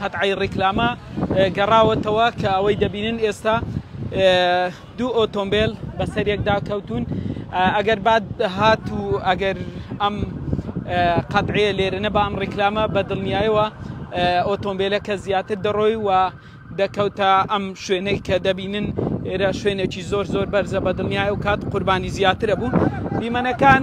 قەتعەی ڕیکلامە گەڕاوەتەوە کە ئەوەی دەبینن ئێستا دوو ئۆتۆمبیل بەسەر یەکدا کەوتون ئەگەر بعد هات و ئەگەر ئەم قەتعەیە لێرە نەبا ئەم ڕیکلامە بە دڵنیایەوە ئۆتۆمبیلەکە زیاتر دەڕۆی و دەکەوتە ئەم شوێنەی کە دەبینن ئێرە شوێنێکی زۆر زۆر بەرزە بە دڵنیای و کات قوربانی زیاترە بوو دیمەنەکان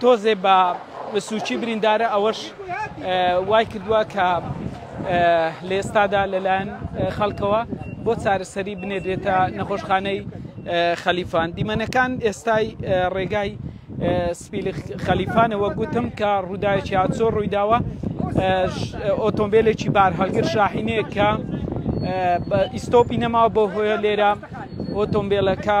تۆزێ بە سوچی بریندارە ئەوەش وای کردووە کە لە ئێستادا لەلایەن خەڵکەوە بۆ چارەسەری بنێدرێتە نەخۆشخانەی خەلیفان دیمەنەکان ئێستای ڕێگای سپیل خەلیفانەوە گوتم کە ڕووداوێکی هاچۆ ڕوویداوە ئۆتۆمبیلێکی بار هەڵگر شاحینەیە کە ئیسۆپی نەماوە بۆ هۆیە لێرە ئۆتۆمبیلەکە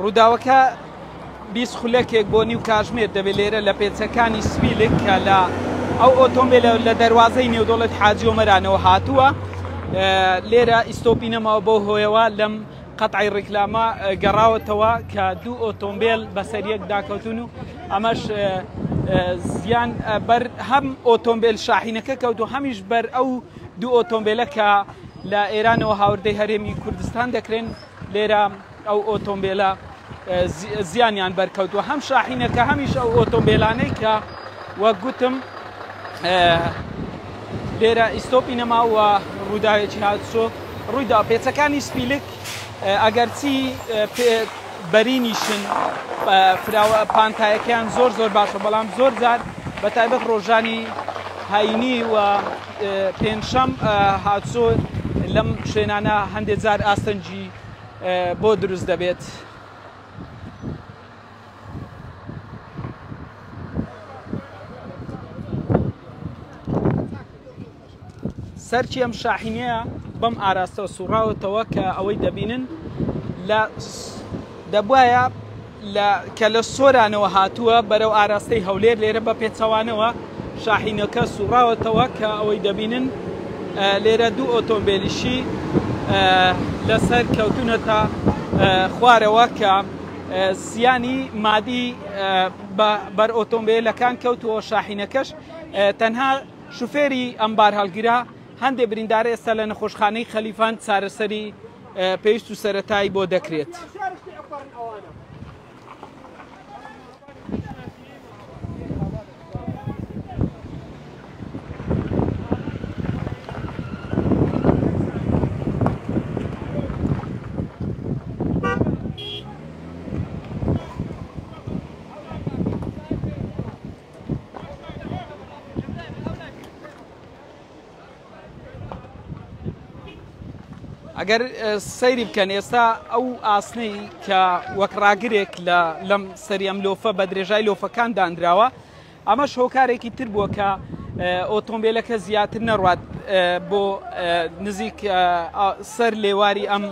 ڕووداوەکە بیست خولەکێک بۆ نیو کاژمێر دەبێت لێرە لە پێچەکانی سپیلک کە لە ئەو ئۆتۆمبیل لە دەواازەی نێودۆڵێت حاجیۆمەرانەوە هاتووە لێرە ئیسۆپی نەماوە بۆ هۆیەوە لەم قەتعی ڕیکلامە گەڕاوەتەوە کە دوو ئۆتۆمبێل بەسەر یەک داکەوتون و ئەمەش زیان بەر هەم ئۆتۆمبیل شاحینەکە کەوت و هەمیش بەر ئەو دوو ئۆتۆمبیلە کە لە ئێرانەوە هاوردەی هەرێمی کوردستان دەکرێن لێرە ئەو ئۆتۆمبیلە زیانیان بەرکەوتووە هەم شاحینەکە هەمیش ئەو ئۆتۆمبیلانەی کە وەک گوتم لێرە ئیسۆپی نەماوە ڕووداوێکی هاتسۆ ڕوویدا پێچەکانی سپیلک ئەگەرچی بەرینیشن فراوە پانتایەکەیان زۆر زۆر باشە بەڵام زۆر جار بە تایبەت ڕۆژانی هاینی و پێنجشەم هاتسۆ لەم شوێنانە هەندێک جار ئاستەنجی بۆ دروست دەبێت. سەرکی ئەم شاحینەیە بەم ئاراستەوە سوڕاوەتەوە کە ئەوەی دەبینن لە دەبواە لە کە لە سۆرانەوە هاتووە بەرەو ئاراستەی هەولێر لێرە بە پێچەوانەوە شاحینەکە سوڕاوەتەوە کە ئەوەی دەبینن لێرە دوو ئۆتۆمبیلیشی لەسەر کەوتونەتە خوارەوە کە زیانی مادی بەر ئۆتۆمبیلەکان کەوتووە شاحینەکەش تەنها شوفێری ئەم بار هەڵگیرا هەندێک بریندار ئێستا لە نەخۆشخانەی خەلیفان چارەسەری پێویست و سەرەتایی بۆ دەکرێت. ئەگەر سەیری بکەن ئێستا ئەو ئاسنەی کە وەک ڕاگرێک لە لەم سەری ئەم لۆفە بە درێژای لۆفەکان دانراوە ئەمە شۆکارێکی تر بووە کە ئۆتۆمبیلەکە زیاتر نەڕات بۆ نزیک سەر لێواری ئەم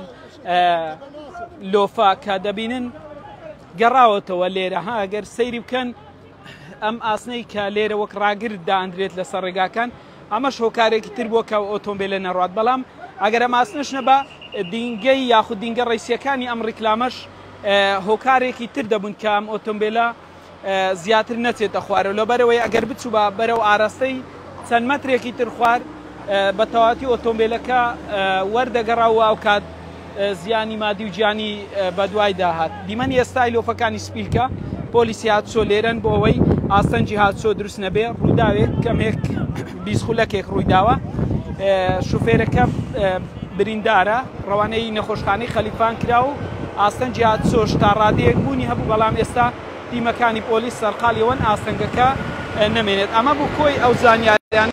لۆفا کە دەبینن گەڕاوەتەوە لێرە ها گەر سەیری بکەن ئەم ئاسنەی کە لێرە وەک ڕاگر دانرێت لەسەر ڕێگاکان ئەمەش هۆکارێکی تر بووە کە ئۆتۆمبێلە نەڕوات، بەڵام ئەگەر ئەم ئاسنەش نەبا، دینگەی یاخود دینگە ڕیسییەکانی ئەم ڕیکلامەش هۆکارێکی تر دەبوون کە ئەم ئۆتۆمبێلە زیاتر نەچێتە خوارەوە، لەبەرئەوەی ئەگەر بچووبا بەرەو ئاراستەی چەند مەترێکی تر خوار، بەتەواوەتی ئۆتۆمبێلەکە وەردەگەڕا و ئەوکات زیانی مادی و گیانی بەدوایدا هات. دیمەنی ئێستای لۆفەکانی سپیلکە پۆلی سیهاتچۆ لێرەن بۆ ئەوەی ئاستەنگی هاتچۆ دروست نەبێ ڕووداوێک کەمێک بیست خولەکێک ڕوویداوە شوفێرەکە بریندارە ڕەوانەی نەخۆشخانەی خەلیفان کرا و ئاستەنگی هاتچۆش تا ڕادەیەک بوونی هەبوو بەڵام ئێستا تیمەکانی پۆلیس سەرقالی ئەوەن ئاستەنگەکە نەمێنێت ئەمە بوو کۆی ئەو زانیاریانە.